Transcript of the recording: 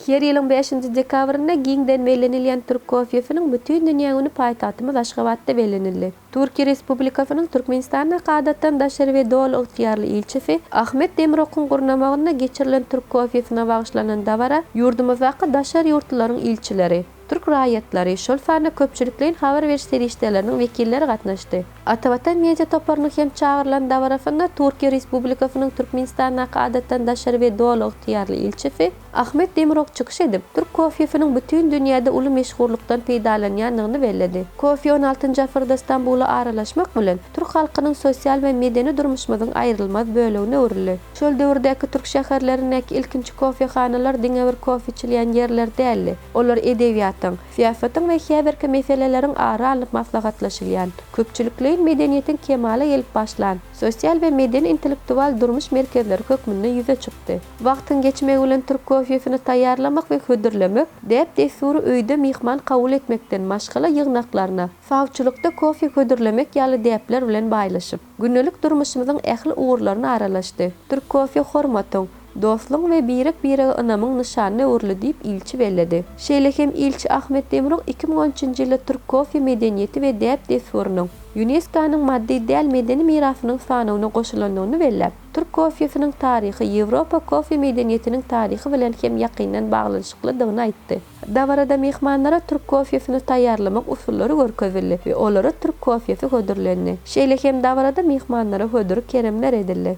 Her ýylyň bäşinji dekabrynda giňden bellenilýän Türk kofesiniň bütin dünýä güni paýtagtymyz Aşgabatda bellenildi. Türkiýe Respublikasynyň Türkmenistandaky Adatdan daşary we Doly ygtyýarly ilçisi Ahmet Demirokuň gurnamagynda geçirilen Türk kofesyna bagyşlanan dabara ýurdumyzdaky daşary ýurtlularyň ilçileri, türk raýatlary, şol sanda köpçülikleýin habar beriş serişdeleriniň wekilleri gatnaşdy. Atavatan media toparynyň hem çagyrylan dabarasynda Türkiýe Respublikasynyň Türkmenistandaky Adatdan daşary we Doly ygtyýarly ilçisi Ahmet Demirok çykyş edip, türk kofesiniň bütin dünýäde uly meşhurlykdan peýdalanýandygyny belledi. Kofe on altynjy asyrda Stambula aralaşmak bilen, türk halkynyň sosial we medeni durmuşymyzyň aýrylmaz bölegine öwrüldi. Şol döwürdäki türk şäherlerindäki ilkinji kofehanalar diňe bir kofe içilýän ýerler däldi. Olar edebiýatyň, syýasatyň we häzirki meseleleriň ara alnyp maslahatlaşylýan, köpçülikleýin medeniýetiň kemala gelip başlan, sosial we medeni-intellektual durmuş merkezleri hökmünde ýüze çykdy. Wagtyň geçmegi bilen türk kofesini taýýarlamak we hödürlemek däp-dessury öýde myhman kabul etmekden maşgala ýygnaklaryna, sawçylykda kofe hödürlemek ýaly däpler bilen baýlaşyp, Gündelik durmuşymyzyň ähli ugurlaryna aralaşdy. Türk kofeý hormatyň, dostlugyň we birek-birege ynamyň nyşanyna öwrüldi diýip, ilçi belledi. Şeýle hem ilçi Ahmet Demirok iki müň on üçünji ýylda türk kofeý medeniýeti we däp-dessurynyň ÝUNESKO-nyň maddy däl medeni mirasynyň sanawyna goşulandygyny belläp, türk kofeýsiniň taryhy Ýewropa kofeý medeniýetiniň taryhy bilen hem ýakyndan baglanyşyklydygyny aýtdy. Dabarada myhmanlara türk kofesini taýýarlamak usullary görkezildi we olara türk kofesi hödürlendi. Şeýle hem dabarada myhmanlara hödür keremler edildi.